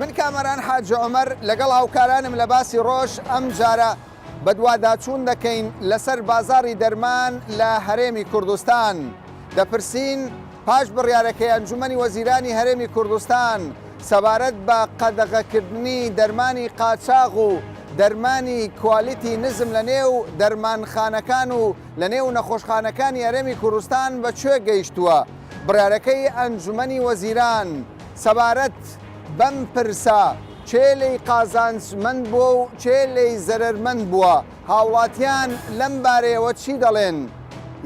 من کامەران حاجی عومەر لەگەڵ هاوکارانم لە باسی ڕۆژ ئەمجارە بەدواداچوون دەکەین لەسەر بازاڕی دەرمان لە هەرێمی کوردستان دەپرسین پاش بڕیارەکەی ئەنجومەنی وەزیرانی هەرێمی کوردستان سەبارەت بە قەدەغەکردنی دەرمانی قاچاغ و دەرمانی کوالیتی نزم لە نێو دەرمانخانەکان و لە نێو نەخۆشخانەکانی هەرێمی کوردستان بە کوێ گەیشتووە بڕیارەکەی ئەنجومەنی وەزیران سەبارەت بەم پرسە، کێ لێی قازانجمەند بووە و کێ لێی زەرەرمەند بووە؟ هاوڵاتیان لەم بارەیەوە چی دەڵێن؟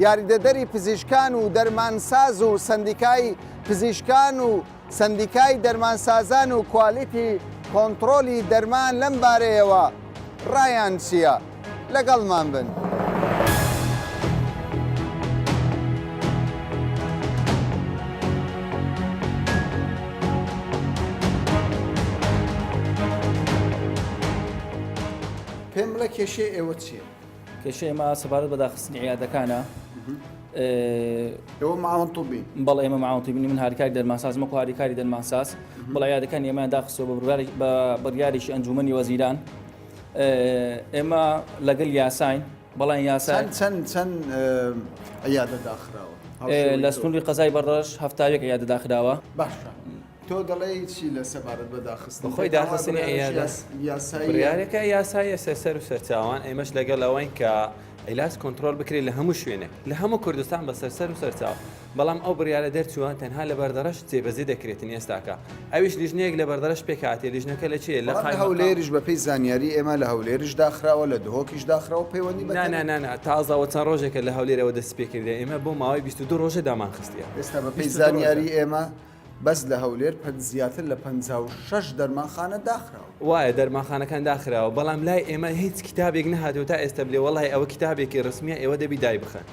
یاریدەدەری پزیشکان و دەرمانساز و سەندیکای پزیشکان و سەندیکای دەرمانسازان و کوالیتی کۆنتڕۆلی دەرمان لەم بارەیەوە، ڕایان چییە؟ لەگەڵمان بن. پێم بڵێ کێشەی ئێوە چییە؟ کێشەی ئێمە سەبارەت بە داخستنی عیادەکانە ئێوە ماوەن طبی بەڵ ئێمە ماوەن طبی من هاریکاری دەرماساز مەکو هاریکاری دەرماساز بەڵ عیادەکان ئێمە داخستەوە بە بڕیارێکی ئەنجومنی وەزیران ئێمە لەگەل یاساین بەڵام یاسا چەند چەند عیادە داخراوە لە سنووری قەزای بەڕەش هەفتاوێک عیادە داخراوە باشە تۆ دەڵێی چی لە سەبارەت بە داخستن خۆی داخستنی یاسایەکە یاسایە سەر و سەرچاوان ئێمەش لەگەڵ ئەوەین کە ئەلاس کۆنتترۆل بکرێت لە هەموو شوێنێک لە هەموو کوردستان بە سەرسەر و سەرچاو بەڵام ئەو بڕیاە دەرچووە تەنها لە بەردەڕش جێبەزی دەکرێتن ئێستاکە ئەویش لیژنەیەک لە بەردەڕش پێکاتی لیژنەکە لە چێ لە هەولێریش بەپی زانیاری ئێمە لە هەولێریش داخراوە لە دهۆکیش داخراوە پەیوەندی بەنانانە تازەوە چەند ڕۆژێکە لە هەولێرەوە دەست پێکردێ ئێمە بۆ ماوەی 22 ڕۆژە دامانخستە ئێستا بەپی زانیاری ئێمە بەس لە هەولێر پەن زیاتر لە پەنجا و شەش دەرمانخانە داخراوە. وایە دەرمانخانەکان داخراوە بەڵام لای ئێمە هیچ کیتابێک نەهاتوە تا ئێستا بلێ وەڵای ئەوە کیتابێکی رسمیە ئێوە دەبی دای بخەن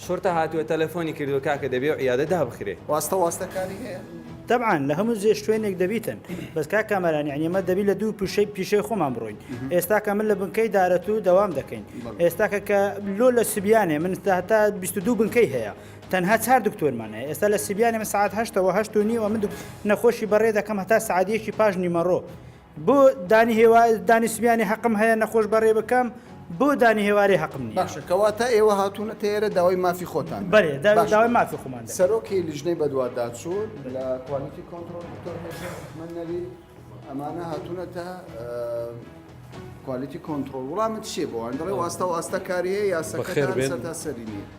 شورتە هاتوە تەلەفۆنی کردوە کاکە دەبێ و عیادە دابخرێ. واستە واستە کاری هەیە؟ تەبعەن لە هەموو جێ شتوێنێک دەبیتن بەس کاک کامەران یەعنی ئەمە دەبی لە دوو پیشەی پیشەی خۆمان بڕۆین ئێستاکە من لە بنکەی دارەتوو دەوام دەکەین ئێستاکە کە لۆ لە سبیانێ من تا بیست و دوو بنکەی هەیە تەنها چار دکتۆرمان هەیە ئێستا لە سبیانی من سعات هەشتەوە هەشت و نیوە من نەخۆشی بەڕێ دەکەم هەتا سعادیەکی پاش نیمەڕۆ بۆ دانی هێوا دانی سبیانی حەقم هەیە نەخۆش بەڕێ بکەم بۆ دانی هێوارێ حەقم نیە باشەکەوا تا ئێوە هاتوونە تێرە داوای مافی خۆتان بەێ داوای مافی خۆمان سەرۆکی لیژنەی بەدووادا چوو لە کوالتی کۆنتترۆل من نەوی ئەمانە هاتوونە تا کوالتی کۆنتترۆل وڵامت چیە بۆوان دەڵێ واستە واستە کاریە یاسەکە سەری نیە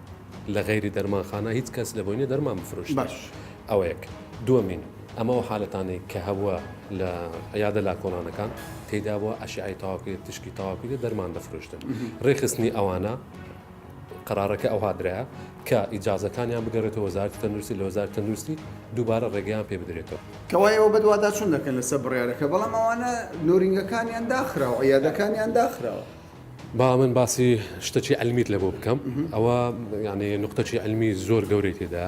لە غەیری دەرمانخانە هیچ کەس لەبۆی نیە دەرمان بفرۆشێت باش ئەوە یەک دووەمین ئەمە ئەو حالەتانەی کە هەبووە لە عیادە لاکۆڵانەکان تێدا بووە ئەشعی تاواکرێت تشکی تاواکرێت دەرمان دەفرۆشتن ڕێخستنی ئەوانە قرارەکە ئەو هادرایە کە ئیجازەکانیان بگەڕێتەوە وەزارتی تەندروستی لە وەزارت تەندروستی دووبارە ڕێگەیان پێ بدرێتەوە کەوایەوە بەدواداچوون دەکەن لەسەر بڕیارەکە بەڵام ئەوانە نۆرینگەکانیان داخراوە عیادەکانیان داخراوە. با من باسی شتەکی ئەلمیت لە بۆ بکەم ئەوە یانێ نقطەکی ئەلمی زۆر گەورەی تێدا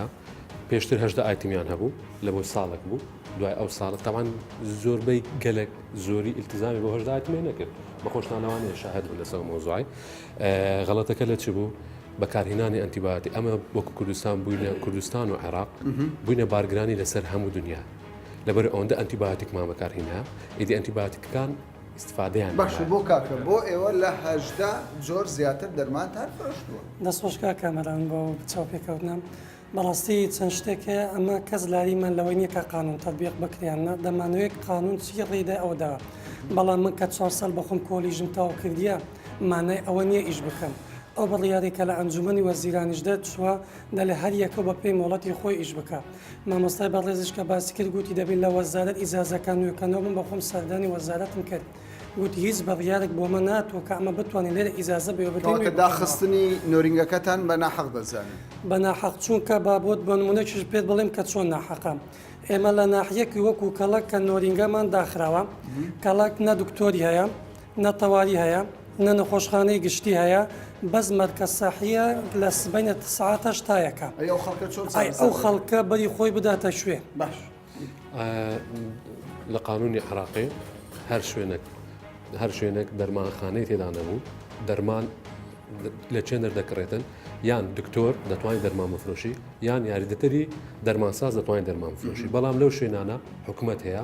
پێشتر هەشدا ئایتمیان هەبوو لە بۆ ساڵک بوو دوای ئەو ساڵە تاوان زۆربەی گەلک زۆری ئیلتزامی بۆ هەشدا ئایتمیان نەکرد بە خۆشتانەوانێ شاهد بوو لەسەر مۆزای غەڵەتەکە لە چ بوو بەکارهێنانی ئەنتیباتی ئەمە وەکو کوردستان بووینە کوردستان و عێراق بووینە بارگرانی لەسەر هەموو دنیا لەبەر ئەوەندە ئەنتیباتیکمان بەکارهینا ئیدی ئەنتیباتیکەکان ئیستفادەیان لێ باشە بۆ کاکە بۆ ئێوە لە هەژدە جۆر زیاتر دەرمانتان فرۆشتووە؟ دەست خۆش کاک کامەران بۆ ئەو چاوپێکەوتنە بەڕاستی چەند شتێک هەیە ئەمە کەس لاریمان لەوەی نییە کە قانون تەتبیق بکرێ یان نا دەمانەوێت قانون چی ڕێی دا ئەوە داوە بەڵام من کە چوار ساڵ بە خۆم کۆلیژم تەواو کردیە مانای ئەوە نییە ئیش بکەم ئەو بڕیارەی کە لە ئەنجوومەنی وەزیرانیش دەرچووە دەلێ هەر یەکە بە پێی مۆڵەتی خۆی ئیش بکا مامۆستای بەڕێزیش کە باسی کرد گوتی دەبێت لە وەزارەت ئیجازەکان نوێکەنەوە بم بەخۆم سەردانی وەزارەتم کرد گوتی هیچ بڕیارێک بۆ مە ناتوە کە ئەمە بتوانین لێرە ئیجازە بێ بکەوە کە داخستنی نۆرینگەکەتان بە ناحەق دەزانن بە ناحەق چونکە با بۆت بە نمونەکیش پێت بڵێم کە چۆن ناحەقە ئێمە لە ناحیەکی وەکو کەڵک کە نۆرینگەمان داخراوە کەڵک نە دکتۆری هەیە نە تەواری هەیە نە نەخۆشخانەی گشتی هەیە بەس مەرکەز سەحیە لە سبەینە سعات هەشتایەکە ئەی ئەو خەڵکە چۆن ئەی چارەسەر ئەو دەکەن؟ خەڵکە بەری خۆی بداتە شوێ باش لە قانونی عراقی هەر شوێنێک هەر شوێنێک دەرمانخانەی تێدا نەبوو دەرمان لە چێن دەردەکڕێتن یان دکتۆر دەتوانین دەرمان بفرۆشی یان یاریدەتەری دەرمانساز دەتوانین دەرمان بفرۆشی بەڵام لەو شوێنانە حکومەت هەیە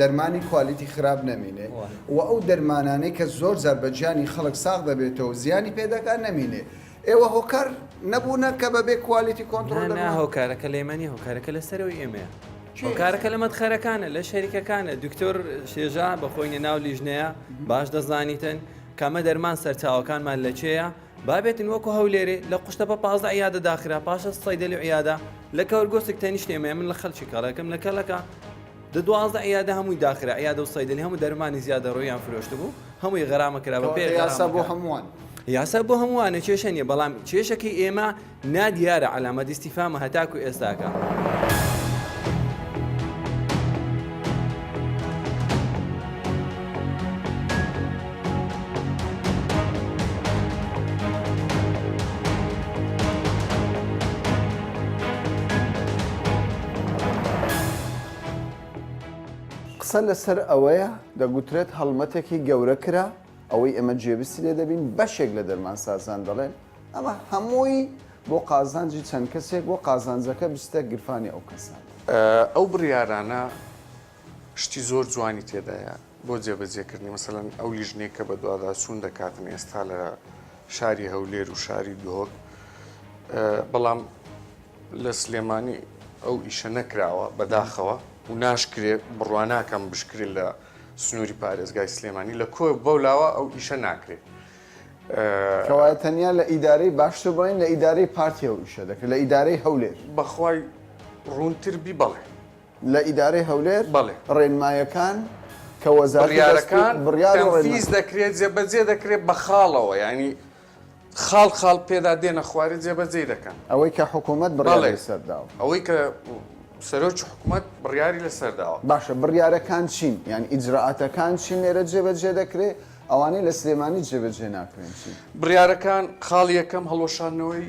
دەرمانی کوالیتی خراپ نەمینێ و ئەو دەرمانانەی کە زۆر جار بە گیانی خەڵک ساغ دەبێتەوە زیانی پێ دەکات نەمینێ ئێوە هۆکار نەبوونە کە بەبێ کوالیتی کۆنتڕۆل دەکەن هۆکارەکە لێمانی هۆکارەکە لە سەرەوەی ئێمەیە هۆکارەکە لە مەدخەرەکانە لە شەریکەکانە دکتۆر شێژا بەخۆینە ناو لیژنەیە باش دەزانیتن کامە دەرمان سەرچاوەکانمان لە چێە بابێتن وەکو هەولێرێ لە قوشتە بە پازە عیادە داخرا پاشە سەیدە لە عیادا لە کەورگۆسک تەنیشتێمە من لە خەلکی کاڵەکەم لە کەلەکە دە دوازدە عیادە هەمووی داخرا، عیادە و سەیدەلی هەموو دەرمانی زیادەڕۆییان فرۆشتبوو، هەمووی غەرامە کرا بە پێ یاسا بۆ هەمووان. یاسا بۆ هەمووانە کێشە نییە، بەڵام کێشەکەی ئێمە نادیارە، عەلامەت ئیستیفهامە هەتاکوو ئێستاکە. قسە لەسەر ئەوەیە دەگوترێت هەڵمەتێکی گەورە کرا ئەوەی ئێمە جێبیستی لێ دەبین بەشێک لە دەرمانسازان دەڵێن ئەمە هەمووی بۆ قازانجی چەند کەسێک بۆ قازانجەکە بستە گرفانی ئەو کەسان ئەو بڕیارانە شتی زۆر جوانی تێدایە بۆ جێبەجێکردنی مەسەلەن ئەو لیژنەی کە بە دواداچوون دەکاتن ئێستا لە شاری هەولێر و شاری دهۆک بەڵام لە سلێمانی ئەو ئیشە نەکراوە بەداخەوە و ناشکرێت بڕواناکەم بشکرێت لە سنووری پارێزگای سلێمانی لە کۆ بەو لاوە ئەو ئیشە ناکرێت. کەوا تەنیا لە ئیدارەی باشتر بڵین لە ئیدارەی پارتیەوە ئیشە دەکرێت لە ئیدارەی هەولێر بەخوای ڕوونتر بی بەڵێ. لە ئیدارەی هەولێر بەڵێ. ڕێنمایەکان کە وەزارەتی دەست بڕیارەکان بڕیار و ڕێنما. تەنفیز دەکرێت، جێبەجێ دەکرێت بە خاڵەوە، یانی خاڵ خاڵ پێدا دێنە خوارێ جێبەجێی دەکەن. ئەوەی کە حکوومەت بڕیاری بەڵێ. لەسەر داوە. ئەوەی کە سەرۆکی حکوومەت بڕیاری لەسەر داوە. باشە بڕیارەکان چین؟ یان ئیجرائاتەکان چین لێرە جێبەجێ دەکرێ؟ ئەوانەی لە سلێمانی جێبەجێ ناکرێن چین؟ بڕیارەکان، خاڵی یەکەم هەڵوەشاندنەوەی.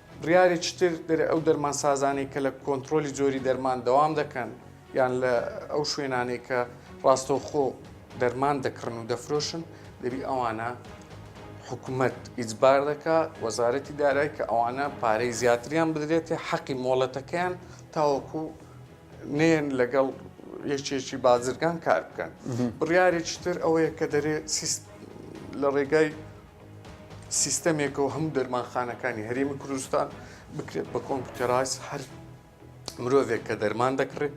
بڕیارێکی تر دەرێ ئەو دەرمانسازانەی کە لە کۆنترۆلی جۆری دەرمان دەوام دەکەن یان لە ئەو شوێنانەی کە ڕاستەوخۆ دەرمان دەکڕن و دەفرۆشن دەبی ئەوانە حکوومەت ئیجبار دەکا وەزارەتی دارای کە ئەوانە پارەی زیاتریان بدرێتێ حەقی مۆڵەتەکەیان تاوەکو نێن لەگەڵ یەکێکی بازرگان کار بکەن بڕیارێکی تر ئەوەیە کە دەرێ لە ڕێگای سیستەمێکەوە هەموو دەرمانخانەکانی هەرێمی کوردستان بکرێت بە کۆمپیوتەرایز هەر مرۆڤێک کە دەرمان دەکڕێت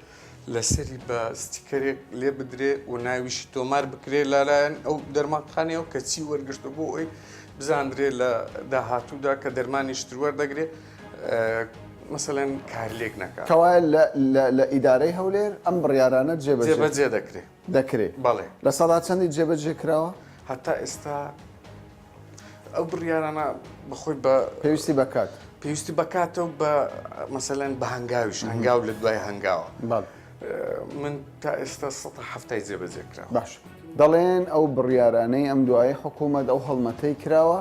لەسەری بە ستیکەرێک لێ بدرێ و ناویشی تۆمار بکرێ لەلایەن ئەو دەرمانخانەیە و کەچی وەرگشتە بۆ ئەوی بزانرێ لە داهاتوودا کە دەرمانی شتروەر دەگرێت مەسەەن کارلێک نەکە کەوایە لە ئیدارەی هەولێر ئەم بڕیارانە جێبەجێ دەکرێت. دەکرێت بەڵێ لە سەدا چەندی جێبەجێ کراوە؟ هەتا ئێستا ئەو بڕیارانە بەخۆی بە پێویستی بەکات پێویستی بەکاتەوە بە مەسەلەن بە هەنگاویش هەنگاو لە دوای هەنگاوە من تا ئێستا سە هەفتای جێبەجێ کرا باش دەڵێن ئەو بڕیارانەی ئەم دوای حکوومەت ئەو هەڵمەتەی کراوە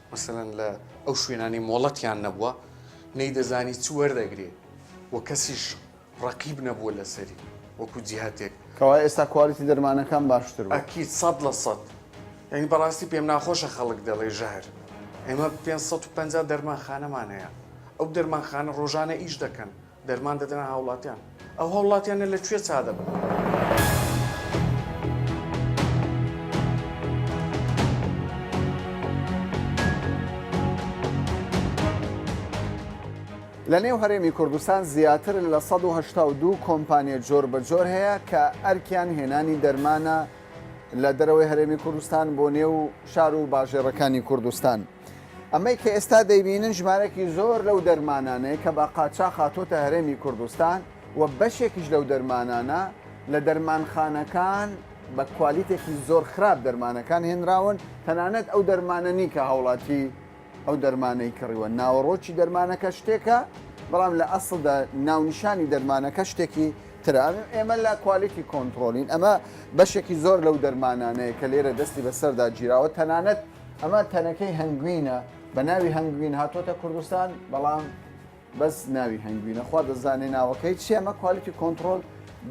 مەسەلەن لە ئەو شوێنانەی مۆڵەتیان نەبووە نەیدەزانی چ وەردەگرێ و کەسیش ڕەقیب نەبووە لەسەری وەکو جیهەتێک. کەوایە ئێستا کوالیتی دەرمانەکان باشتر بووە؟ ئەکید سەد لە سەد یانی بەڕاستی پێم ناخۆشە خەڵک دەڵێ ژەهر ئێمە پێنج سەد و پەنجا دەرمانخانەمان هەیە ئەو دەرمانخانە ڕۆژانە ئیش دەکەن. دەرمان دەدەنە هاوڵاتیان. ئەو هاوڵاتیانە لە کوێ چا دەبن؟ لە نێو هەرێمی کوردستان زیاتر لە 1970 کۆمپانیە جۆر بە جۆر هەیە کە ئەرکیان هێنانی دەرمانە لە دەرەوەی هەرێمی کوردستان بۆ نێو شار و باژێڕەکانی کوردستان. ئەمەی کە ئێستا دەیبینن ژمارەێکی زۆر لەو دەرمانانەیە کە بە قاچاخ هاتۆتە هەرێمی کوردستان و بەشێکیش لەو دەرمانانە لە دەرمانخانەکان بە کوالیتێکی زۆر خراپ دەرمانەکان هێنراون تەنانەت ئەو دەرمانە نی کە هاوڵاتی ئەو دەرمانەی کڕیوە ناوەڕۆکی دەرمانەکە شتێکە بەڵام لە ئەسڵدا ناونیشانی دەرمانەکە شتێکی تراوی ئێمە لە کوالیتی کۆنتترۆلین ئەمە بەشێکی زۆر لەو دەرمانانەیە کە لێرە دەستی بەسەردا گیراوە تەنانەت ئەمە تەنەکەی هەنگوینە بە ناوی هەنگوین هاتۆتە کوردستان بەڵام بەس ناوی هەنگوینە خوا دەزانێ ناوەکەی چیەمە کوالتی کۆنتترۆل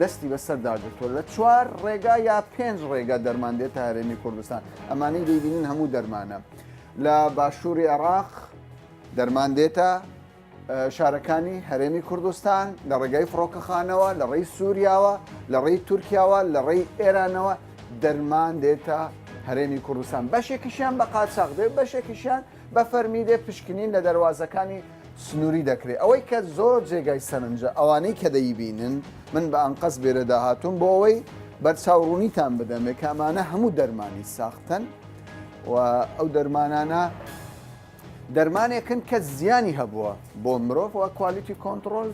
دەستی بەسەر داگرتووە لە چوار ڕێگا یا پێنج ڕێگا دەرمان دێتە هەرێمی کوردستان ئەمانەی دەیبینن هەموو دەرمانە لە باشووری عێراق دەرمان دێتە شارەکانی هەرێمی کوردستان لە ڕێگای فڕۆکەخانەوە لە ڕێی سووریاوە لە ڕێی تورکیاوە لە ڕێی ئێرانەوە دەرمان دێتە هەرێمی کوردستان بەشێکیشیان بە قاچاق دێ بەشێکیشیان بە فەرمی دێ پشکنین لە دەواازەکانی سنووری دەکرێت ئەوەی کە زۆر جێگای سەرنجە ئەوانەی کە دەیبینن من بە ئەنقەس بێرە داهاتون بۆ ئەوەی بەرچاوڕوونیتان بدەمێ کامانە هەموو دەرمانی ساختن و ئەو دەرمانانە دەرمانێکن کە زیانی هەبووە بۆ مرۆڤ و کوالیتی کۆنتڕۆل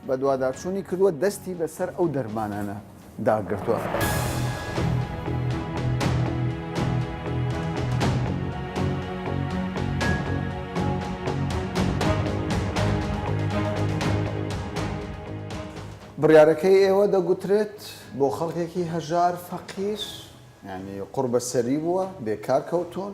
بەدواداچوونی کردووە دەستی بەسەر ئەو دەرمانانە داگرتووە. بڕیارەکەی ئێوە دەگوترێت بۆ خەڵکێکی هەژار فەقیر ینی قڕبەسەری بووە بێکار کەوتون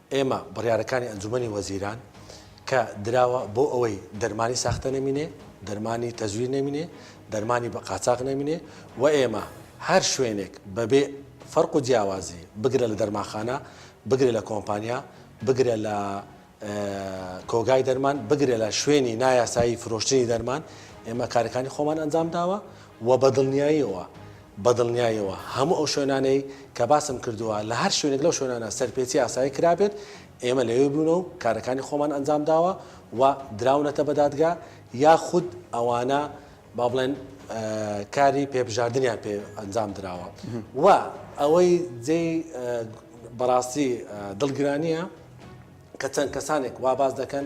ئێمە بڕیارەکانی ئەنجومەنی وەزیران کە دراوە بۆ ئەوەی دەرمانی ساختە نەمینێ، دەرمانی تەزویر نەمینێ، دەرمانی بە قاچاغ نەمینێ و ئێمە هەر شوێنێک بەبێ فەرق و جیاوازی بگرە لە دەرمانخانە، بگرە لە کۆمپانیا، بگرە لە کۆگای دەرمان، بگرە لە شوێنی نایاسایی فرۆشتنی دەرمان، ئێمە کارەکانی خۆمان ئەنجام داوە و بە دڵنیاییەوە بە دڵنیایەوە هەموو ئەو شوێنانەی کە باسم کردووە، لە هەر شوێنێک لەو شوێنانە سەرپێچی ئاسایی کرابێت، ئێمە لەوێ بووینە و کارەکانی خۆمان ئەنجام داوە و دراونەتە بە دادگا، یاخود ئەوانە با بڵێن کاری پێبژاردنیان پێ ئەنجام دراوە و ئەوەی جێی بەڕاستی دڵگرانییە کە چەند کەسانێک وا باس دەکەن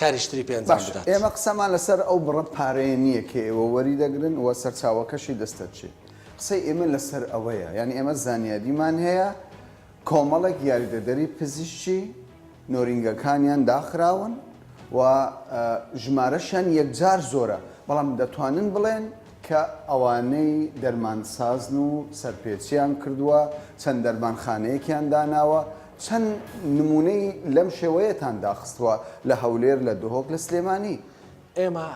کاریش تری پێ ئەنجام باشە بدات. ئێمە قسەمان لەسەر ئەو بڕە پارەیە نییە کە ئێوە وەری دەگرن و سەرچاوەکەشی دەستە چێ. قسەی ئێمە لەسەر ئەوەیە یانی ئێمە زانیاریمان هەیە کۆمەڵێک یاریدەدەری پزیشکی نۆرینگەکانیان داخراون و ژمارەشیان یەکجار زۆرە بەڵام دەتوانن بڵێن کە ئەوانەی دەرمانسازن و سەرپێچیان کردووە چەند دەرمانخانەیەکیان داناوە چەند نموونەی لەم شێوەیەتان داخستووە لە هەولێر، لە دهۆک، لە سلێمانی؟ ئێمە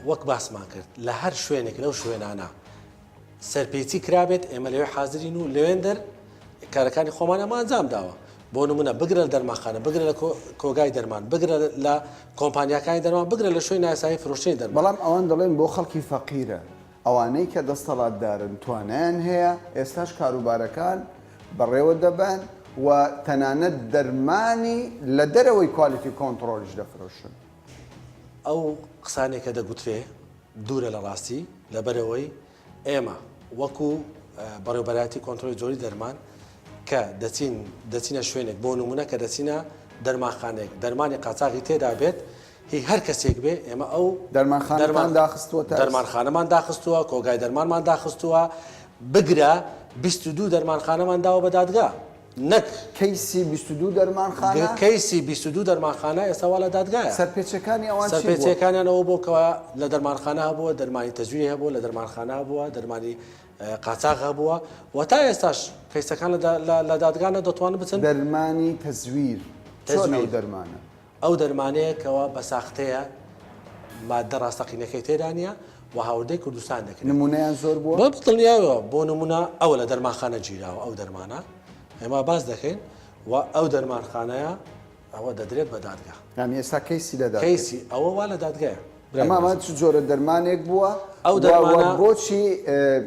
وەک باسمان کرد لە هەر شوێنێک لەو شوێنانە سەرپێچی کرابێت ئێمە لەوێ حازرین و لەوێندەر کارەکانی خۆمان ئەمە ئەنجام داوە بۆ نمونە بگرە لە دەرماخانە بگرە لە کۆگای دەرمان بگرە لە کۆمپانیاکانی دەرمان بگرە لە شوێن ناسایی فرۆشتنی دەرمان بەڵام ئەوان دەڵێن بۆ خەڵکی فەقیرە ئەوانەی کە دەستەڵاتدارن توانایان هەیە ئێستاش کاروبارەکان بەڕێوە دەبەن و تەنانەت دەرمانی لە دەرەوەی کوالیتی کۆنتڕۆڵیش دەفرۆشن. ئەو قسانەی کە دەگوترێ دوورە لە ڕاستی، لەبەرئەوەی ئێمە وەکو بەڕێوبەرایەتی کۆنتڕۆڵی جۆری دەرمان کە دەچین دەچینە شوێنێک بۆ نموونە کە دەچینە دەرمانخانەیەک دەرمانی قاچاغی تێدا بێت، هی هەر کەسێک بێ ئێمە ئەو دەرمانخانەتان داخستووەتە ئێستا؟ دەرمانخانەمان داخستووە، کۆگای دەرمانمان داخستووە، بگرە بیست و دوو دەرمانخانەمان داوە بە دادگا نەک. کەیسی بیست و دوو دەرمانخانە؟ کەیسی بیست و دوو دەرمانخانە ئێستا وا لە دادگایە. سەرپێچییەکانی ئەوان چی بووە؟ سەرپێچییەکانیان ئەوە بووە کە لە دەرمانخانە هەبووە، دەرمانی تەزویری هەبووە، لە دەرمانخانە هەبووە، دەرمانی قاچاغ هەبووە و تا ئێستاش کەیسەکان لە دادگا نە دەتوانن بچن. دەرمانی تەزویر؟ چۆن ئەو دەرمانە؟ ئەو دەرمانەیە کەوا بە ساختەیە ماددە ڕاستەقینەکەی تێدا نیە و هاوردەی کوردستان دەکرێت. نمونەیان زۆر بووە؟ بە دڵنیایەوە، بۆ نمونە ئەوە لە دەرمانخانە گیراوە ئەو دەرمانە ئێمە باس دەکەین و ئەو دەرمانخانەیە ئەوە دەدرێت بە دادگا. یانی ئێستا کەیسی لە دادگایە؟ کەیسی ئەوە وا لە دادگایە. ئەمە ئەمە چ جۆرە دەرمانێک بووە؟ ئەو دەرمانە. و بۆچی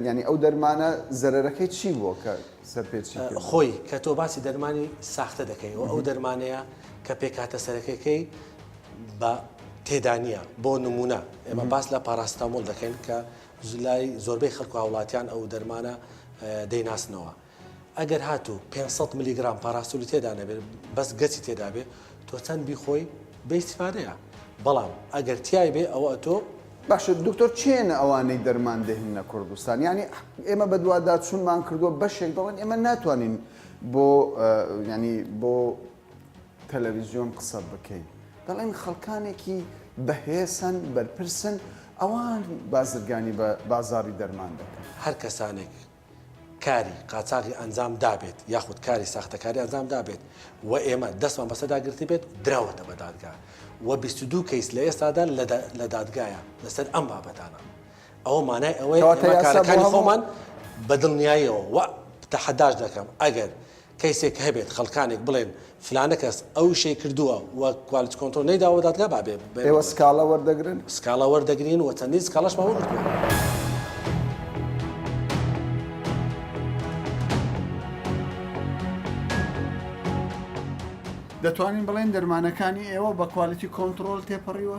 یانی ئەو دەرمانە زەرەرەکەی چی بووە کە. سەرپێچی کردووە. خۆی کە تۆ باسی دەرمانی ساختە دەکەی و ئەو دەرمانەیە کە پێکهاتە سەرەکەکەی بە تێدانە بۆ نمونە ئێمە باس لە پاراستامۆل دەکەین کە زلای زۆربەی خەک و هاوڵاتیان ئەو دەرمانە دەیناسنەوە. ئەگەر هاتوو 500 میلیگرام پاراستولی تێدا نەبێت بەس گەچی تێدابێت تۆ چەند بیخۆی بەیسفادەیە بەڵام ئەگەر تای بێ ئەوە تۆ باشە دکتۆر کێنە ئەوانەی دەرمان دەهیننە کوردستان یانی ئێمە بەدواداچونمان کردوە بەشێک دەڵێن ئێمە ناتوانین بۆ ینی بۆ تەلەویزیۆن قسە بکەین دەڵێن خەڵکانێکی بەهێسن بەرپرسن ئەوان بازرگانی بە بازاری دەرمان دەکەن هەر کەسانێک کاری قاچاغی ئەنجام دابێت یاخود کاری ساختەکاری ئەنجام دابێت و ئێمە دەستمان بەسەردا گرتبێت دراوەتە بە دادگا و 22 کەیس لە ئێستادا لە دادگایە لەسەر ئەم بابەتانە ئەوە مانای ئەوەیە کارەکانی خۆمان بە دڵنیاییەوە و تەحەداش دەکەم ئەگەر کەیسێک هەبێت خەڵکانێک بڵێن فلانە کەس ئەو شەی کردووە و کوالیتی کۆنترۆڵ نەیداوە بە دادگا با بێ بە ئێوە سکاڵا وەردەگرن؟ سکاڵا وەردەگرین و چەندین سکاڵاشمان وەرگرتووە. دەتوانین بڵێین دەرمانەکانی ئێوە بە کوالیتی کۆنتڕۆڵ تێپەڕیوە؟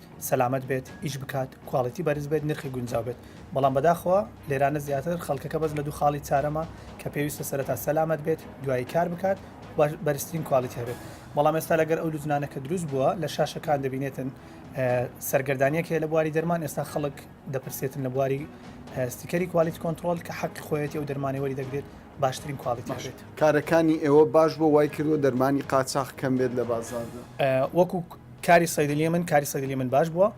سەلامەت بێت ئیش بکات کواڵیتی بەرز بێت نرخی گونجاو بێت بەڵام بەداخەوە لێرانە زیاتر خەڵکەکە بەس لە دوو خاڵی چارەمە کە پێویستە سەرەتا سەلامەت بێت دوایی کار بکات بەرزترین کوالیتی هەبێت بەڵام ئێستا لەگەر ئەو لوجنانە کە دروست بووە لە شاشەکان دەبینێتن سەرگردانیەک هەیە لە بواری دەرمان ئێستا خەڵک دەپرسێتن لە بواری ستیکەری کوالیت کۆنتترۆل کە حەق خۆیەتی ئەو دەرمانی وەری دەگرێت باشترین کوالیت باشێت کارەکانی ئێوە باش بۆ وای کردوە دەرمانی قاچاق کەم بێت لە بازاردا وەکو کاری صیدلی من کاری صیدلی من باش بووە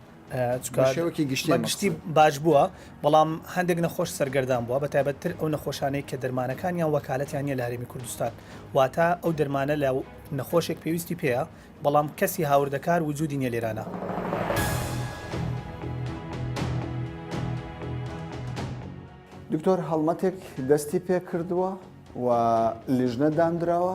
چکار شێوەکی گشتی گشتی باش بووە بەڵام هەندێک نەخۆش سەرگەردان بووە بە تایبەتتر ئەو نەخۆشانەی کە دەرمانەکان یان وەکالەتیان نیە لە هەرێمی کوردستان واتە ئەو دەرمانە لە نەخۆشێک پێویستی پێەیە بەڵام کەسی هاوردەکار وجودی نیە لێرانە. دکتۆر هەڵمەتێک دەستی پێ کردووە و لیژنە دانراوە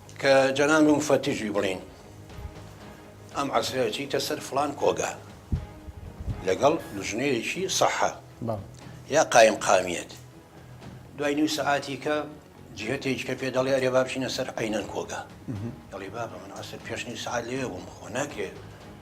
کە جەناب موفەتیشی بڵین ئەم عەسرە چیتە سەر فلان کۆگا لەگەڵ لژنەیەکی سەحە یا قایم قامیت دوای نیو سەعاتی کە جهتێکی کە پێ دەڵێ ئەرێ بابچینە سەر عینەن کۆگا دەڵی بابە من ئەسە پێشنی سعات لێ بووم خۆ ناکرێت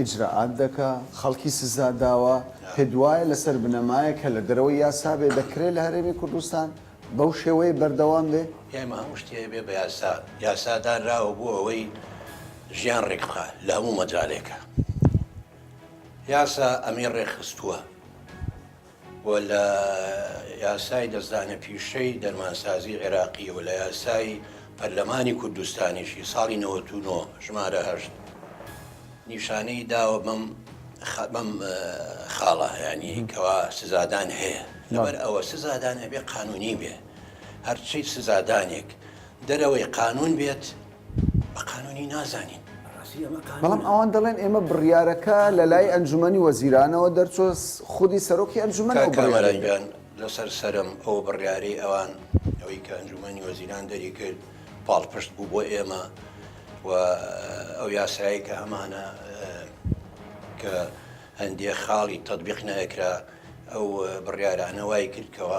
ئیجرائات دەکا خەڵکی سزا داوە پێت وایە لەسەر بنەمایەک کە لە دەرەوەی یاسا بێ دەکرێ لە هەرێمی کوردستان بەو شێوەیە بەردەوام بێ؟ ئێمە هەموو شتی هەبێ بە یاسا یاسا دانراوە بۆ ئەوەی ژیان ڕێک بخا لە هەموو مەجالێکا یاسا ئەمی ڕێک خستووە. و لە یاسای دەستدانە پیشەی دەرمانسازی عێراقی و لە یاسای پەرلەمانی کوردستانیشی ساڵی نەوەت و نۆ ژمارە هەشت نیشانەی داوە بەم بەم خاڵە یانی کەوا سزادان هەیە لەبەر ئەوە سزادان ئەبێ قانونی بێ هەرچی سزادانێک دەرەوەی قانون بێت بە قانونی نازانین ڕاستی ئەمە قانونە؟ بەڵام ئەوان دەڵێن ئێمە بڕیارەکە لە لای ئەنجومەنی وەزیرانەوە دەرچووە خودی سەرۆکی ئەنجومەن ئەو کاک بڕیارەی کامەران دەرکرد. گیان لەسەر سەرم ئەو بڕیارەی ئەوان ئەوەی کە ئەنجومەنی وەزیران دەری کرد پاڵپشت بوو بۆ ئێمە و ئەو یاسایەی کە ئەمانە کە هەندێ خاڵی تەتبیق نەئەکرا ئەو بڕیارانە وای کرد کەوا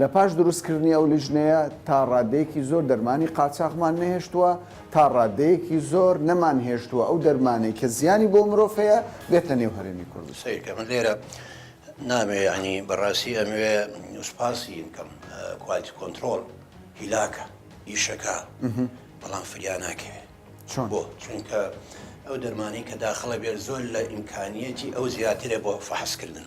لە پاش دروستکردنی ئەو لیژنەیە تا ڕادەیەکی زۆر دەرمانی قاچاخمان نەهێشتووە، تا ڕادەیەکی زۆر نەمانهێشتووە ئەو دەرمانەی کە زیانی بۆ مرۆڤ هەیە بێتە نێو هەرێمی کوردستان. سەیرکە من لێرە نامەوێ یانی بەڕاستی ئەمەوێ سوپاسی بکەم کوالتی کۆنترۆڵ هیلاکە ئیشەکە بەڵام فریا ناکەوێت چۆن بۆ چونکە ئەو دەرمانی کە داخڵە بێت زۆر لە ئیمکانیەتی ئەو زیاترە بۆ فەحسکردن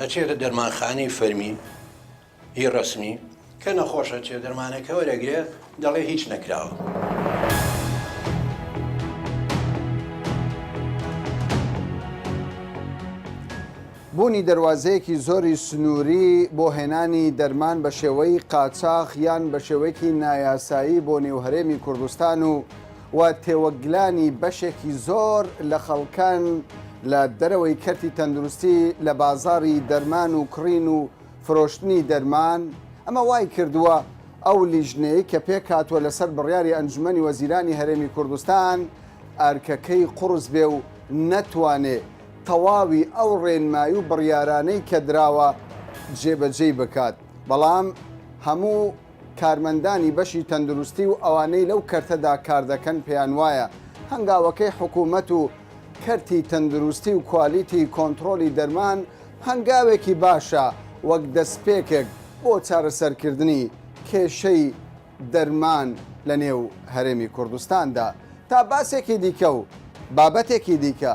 ئەچێتە دەرمانخانەی فەرمی ی ڕەسمی کە نەخۆش ئەچێ دەرمانەکە وەرەگرێ دەڵێ هیچ نەکراوە. بوونی دەروازەیەکی زۆری سنووری بۆ هێنانی دەرمان بە شێوەی قاچاخ یان بە شێوەیەکی نایاسایی بۆ نێو هەرێمی کوردستان و و تێوەگلانی بەشێکی زۆر لە خەڵکان لە دەرەوەی کەرتی تەندروستی لە بازاری دەرمان و کڕین و فرۆشتنی دەرمان ئەمە وای کردووە ئەو لیژنەی کە پێکاتوە لەسەر بڕیاری ئەنجومەنی وەزیرانی هەرێمی کوردستان ئەرکەکەی قڕس بێ و نەتوانێ تەواوی ئەو ڕێنمای و بڕیارانەی کە دراوە جێبەجێی بکات بەڵام هەموو کارمەندانی بەشی تەندروستی و ئەوانەی لەو کەرتەدا کاردەکەن پێیانوایە هەنگاوەکەی حکومەت و کەرتی تەندروستی و کوالیتی کۆنتڕۆلی دەرمان هەنگاوێکی باشە وەک دەستپێکێک بۆ چارەسەرکردنی کێشەی دەرمان لە نێو هەرێمی کوردستاندا تا باسێکی دیکە و بابەتێکی دیکە.